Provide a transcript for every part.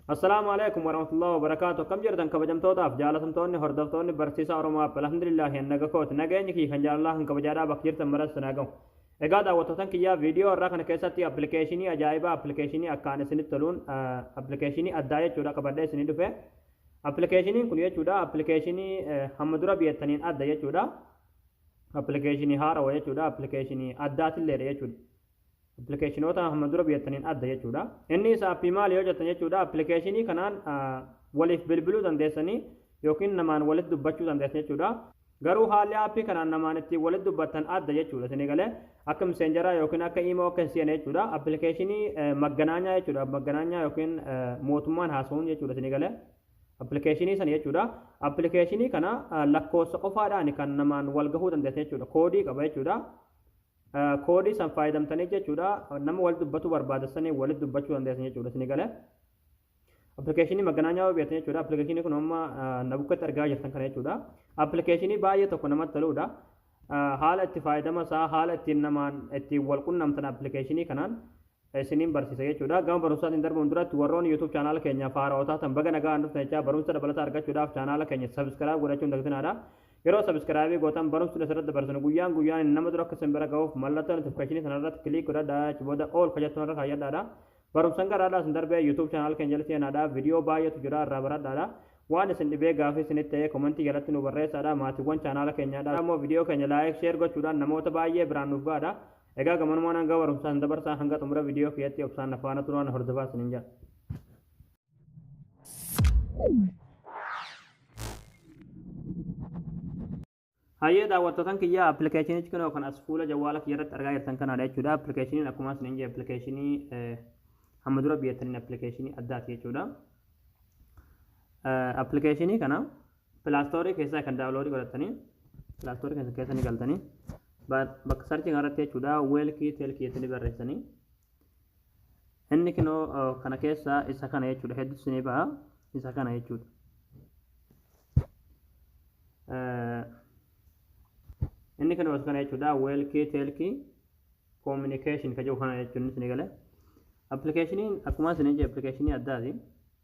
Assalaamu alaikum warahmatullahi wabarakaatu akkam jirtan kabajamtootaaf jaalatamtoonni hordoftoonni barsiisaa Oromoo App alhamdulillahi annaga kooti nageenyi kiyya kan jaalalaa kan kabajaadhaa bakka jirtan maras sinaa gahu. Egaa daawwattootan kiyyaa viidiyoo irraa kana keessatti appilikeeshinii ajaa'ibaa appilikeeshinii akkaan isinitti toluun appilikeeshinii addaa jechuudha qabadhee isinii dhufe. Appilikeeshiniin kun jechuudha appilikeeshinii hamma dura biyyataniin adda jechuudha. Appilikeeshinii haarawa jechuudha appilikeeshinii addaatilleedha jechuudha. Appilikeeshinoota amma dura biyattaniin adda jechuudha. Inni isa appii maali yoo jettan jechuudha appilikeeshinii kanaan waliif bilbiluu dandeessanii yookiin namaan walitti dubbachuu dandeessan jechuudha. Garuu haalli appii kanaan namaan ittiin walitti dubbattan adda jechuudha. Isin egalee akka miseenjaraa yookiin akka imoo akka hin seene jechuudha. Appilikeeshinii magganaanyaa jechuudha. Magganaanyaa yookiin mootummaan haasa'uun jechuudha isin egalee. Appilikeeshinii sana jechuudha. Appilikeeshinii kana lakkoofsa qofaadhaan kan namaan wal gahuu dandeessan jechuudha. Koodii qaba jechuudha. koodii san faayadamtanii jechuudha nama wal dubbatu barbaada sanii walitti dubbachuu dandeessan jechuudha isin galee appilikeeshinii maganaanyaa yoo beektan jechuudha appilikeeshinii kun amma na bukkatti argaa jirtan kana jechuudha appilikeeshinii baay'ee tokko namatti toludha haala itti faayadama isaa haala ittiin namaan ittiin wal qunnamtan appilikeeshinii kanaan isiniin barsiisa jechuudha. Gama barumsaatiin darbuun duratti warroonni YouTube chaanaala keenyaaf haarawa taatan baga nagaan dhuftan jechaa barumsa dabalataa argachuudhaaf chaanaala keenya subscribe godhachuun dagtinaadha. Yeroo subscribe gootan barumsi nuti irratti dabarsinu guyyaan guyyaan nama dura akka isin bira ga'uuf mallattoo notification sana irratti click godhadhaa achi booda all ka jettu irra kaayyadhaadha. Barumsan garaadhaa isin darbee YouTube chaanaala keenya jalatti seenaadha. Viidiyoo baay'eetu jira irraa baradhaadha. Waan isin dhibee gaafii isinitti ta'ee komentii jalatti nu barreessaadha. Maatiiwwan chaanaala keenyaadha. Immoo viidiyoo keenya like share gochuudhaan namoota baay'ee biraan nuuf gahaadha. Egaa gamanumaan hanga barumsaan dabarsaa hanga xumura viidiyoo kiyyatti obsaan na faana turaan hordofaa isiniin jedha. Hayyee daawwattootan kiyya appilikeeshinichi kunoo kan as fuula jawwaala kiyya irratti argaa jirtan kanaadha jechuudha. Appilikeeshiniin akkuma isin hin jee appilikeeshinii hamma dura biyyataniin appilikeeshinii addaati jechuudha. Appilikeeshinii kana Pilaastorii keessaa kan daawuloodii godhattanii pilaastorii keessa keessa ni galtanii bakka sarchii kanarratti jechuudha weelkii teelkii jettanii barreessanii inni kinoo kana keessaa isa kana jechuudha hedduu isinii ba'a isa kana jechuudha. Inni kana kana jechuudha weelkii teelkii koominikeeshin kan jiru kana jechuun isinii gale. Appilikeeshiniin akkuma isinii jee appilikeeshinii addaati.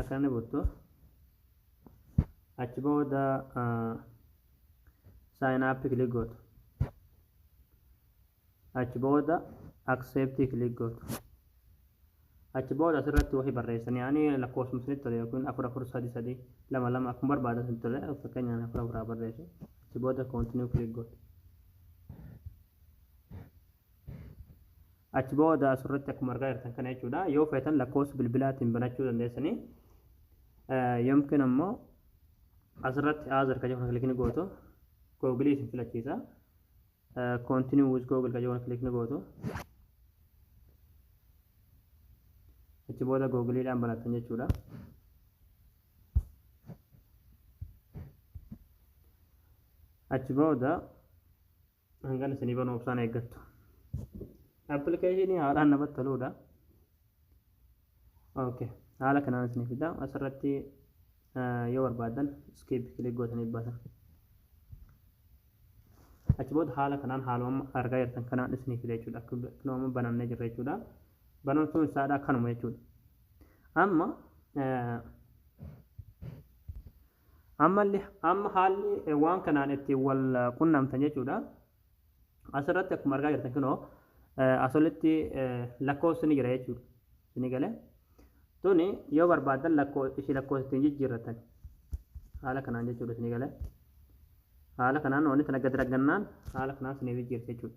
Akka inni buttu. Achi booda sign up click gootu. Achi booda accept click gootu. Achi booda asirratti wahi barreessanii ani lakkoofsuma isinitti tole yookiin afur afur sadi sadi lama lama akkuma barbaadan isinitti tole fakkeenyaan afur afuraa barreessu. Achi booda continue click gootu. Achi booda asirratti akkuma argaa jirtan kana jechuudha. Yoo feetan lakkoofsa bilbilaatiin banachuu dandeessanii. Yomkiin ammoo asirratti aazar ka jedhu kilikni gootu googilii isin filachiisa. Continue with Google ka jedhu kilikni gootu. Achi booda googiliidhaan banattan jechuudha. Achi booda hangan isinii banuu obsaan eeggattu appilikeeshinii haalaan namatti toluudha okay haala kanaan isinii fida asirratti yoo barbaadan skip kilik gootanii baasan achi booda haala kanaan haaluma argaa jirtan kanaan isinii fida jechuudha akka nama banamnee jirra jechuudha banamtuun isaadha kanuma jechuudha amma Ammalle amma haalli waan kanaan ittiin wal qunnamtan jechuudha. Asirratti akkuma argaa jirtan kunoo asolitti lakkoofsi ni jira jechuudha. Isinii galee. Tuni yoo barbaadan lakkoo ishii lakkoofsa ittiin jijjiirratan. Haala kanaan jechuudha isinii galee. Haala kanaan wanti tana gad raggannaan haala kanaan isinii jijjiirti jechuudha.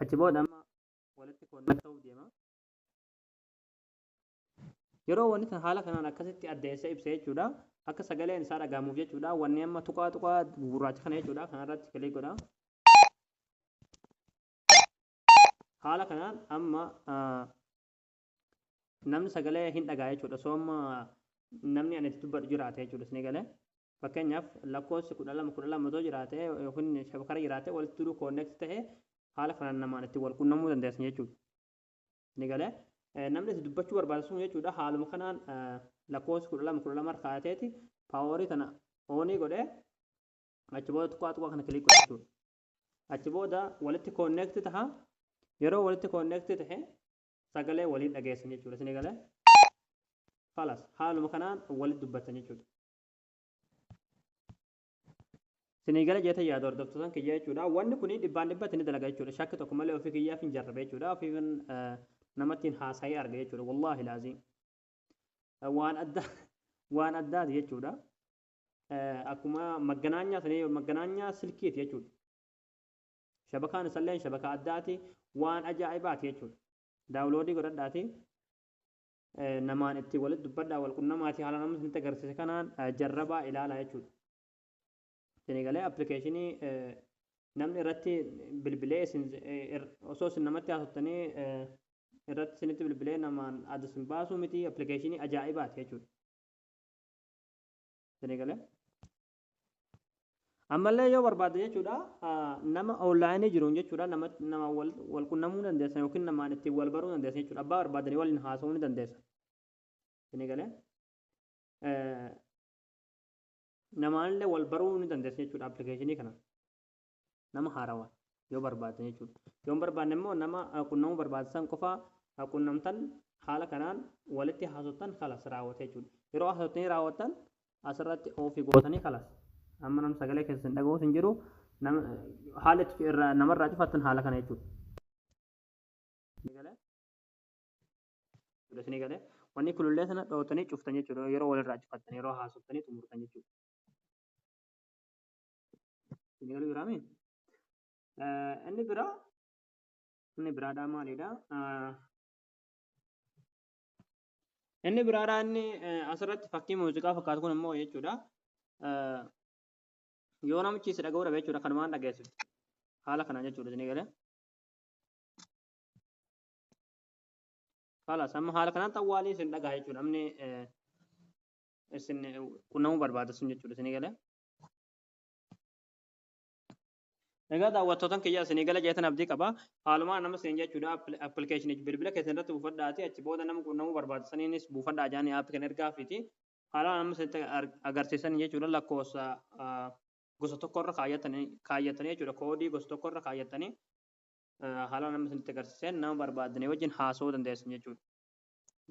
Achi booda amma walitti connect ta'uuf deema. Yeroo wanni san haala kanaan akkasitti addeessee ibse jechuudha. Akka sagaleen isaa dhaga'amuuf jechuudha. Wanni amma tuqaa tuqaa gurraacha kana jechuudha. Kanarratti kilik godha. Haala kanaan amma ah, namni sagalee hin dhagaa jechuudha osoo amma namni ani itti dubbadhu jiraate jechuudha isin galee fakkeenyaaf lakkoofsi kudha lama kudha lama otoo jiraate yookiin shabakara jiraate walitti duruu koonneekti ta'e haala kanaan namaan itti wal qunnamuu dandeessan jechuudha isin galee namni itti dubbachuu barbaadu sun jechuudha haaluma kanaan lakkoofsi kudha lama kudha lama harkaateeti paaworii kana oonii godhee achi booda tuqaa tuqaa kana kiliik godhe jechuudha achi booda walitti koonneekti taha yeroo walitti koonneekti tahe sagalee waliin dhageessan jechuudha isin egalee falas haaluma kanaan walitti dubbattan jechuudha isin egale jeeta yaada hordoftotan kiyya jechuudha wanni kun dhibbaan dhibbatti ni dalaga jechuudha shakki tokko malee ofii kiyyaaf hin jarrabe jechuudha ofii namattiin haasa'ee arga jechuudha wallaahi laazii waan addaa waan addaati jechuudha akkuma magganaanyaa sanii magganaanyaa silkiiti jechuudha Shabakaan isalleen shabakaa addaati waan ajaa'ibaati jechuudha. Daawuloodii godhadhaati namaan itti walitti dubbadhaa wal qunnamaati haala namni isinitti agarsiise kanaan jarrabaa ilaalaa jechuudha. Isinii galee appilikeeshinii namni irratti bilbilee isin osoo isin namatti haasoftanii irratti isinitti bilbilee namaan adda isin baasuu miti appilikeeshinii ajaa'ibaati jechuudha. Isinii galee. Ammallee yoo barbaadde jechuudha nama onlaayinii jiruun jechuudha nama nama wal qunnamuu dandeessa yookiin namaan ittiin wal baruu dandeessa jechuudha abbaa barbaadanii waliin haasa'uu ni dandeessa. Isin galee namaanillee wal baruu ni dandeessa jechuudha appilikeeshinii kana. Nama haarawa yoo barbaaddan jechuudha. Yoo hin barbaadne immoo nama qunnamuu barbaaddan san qofa qunnamtan haala kanaan walitti haasoftan kalas raawwate jechuudha. Yeroo haasoftanii raawwattan asirratti oofii gootanii kalas. Amma nam sagalee keessa hin dhaga'us hin jiru. Haala itti irraa namarraa cufattan haala kana jechuudha. Isinii galee wanni kulullee sana dhootanii cuftan jechuudha. Yeroo walirraa cufattan yeroo haasoftanii xumurtan jechuudha. Isinii jiraame. Inni biraa inni biraadhaa maalidha? Inni biraadhaa inni asirratti fakkii muuziqaa fakkaatu kun immoo jechuudha. Yoo namichi si dhaga'uu dhabe jechuudha kanumaan dhageessifti. Haala kanaan jechuudha isinii galee. Haala amma haala kanaan xawwaalii isin dhaga'a jechuudha. Namni isin qunnamuu barbaada sun jechuudha isinii galee. Egaa daawwattootan kiyya isinii gala jeetan abdii qaba. Haalumaan nama siin jechuudha appilikeeshinichi bilbila keessan irratti buufadhaati achi booda nama quunnamuu barbaadisaniinis buufadhaa jaanii aappi kana ergaafiiti. Haalumaan amma isinitti agarsiisan jechuudha lakkoofsa gosa tokko irra kaayyatanii jechuudha koodii gosa tokko irra kaayyatanii haalumaan amma isinitti agarsiisan nama barbaadanii wajjin haasa'uu dandeessan jechuudha.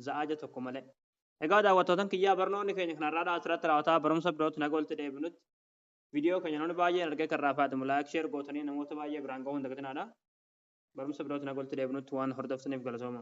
za'aaja tokko malee. Egaa daawwattootan kiyyaa barnoonni keenya kan har'aadhaa asirratti raawwataa barumsa birootti naga walitti deebinutti viidiyoo keenya namni baay'een argee kan raafaatamu laayik sheer gootanii namoota baay'ee biraan gahuu hin dagatinaadha. Barumsa birootti naga walitti deebinutti waan hordoftaniif galatooma.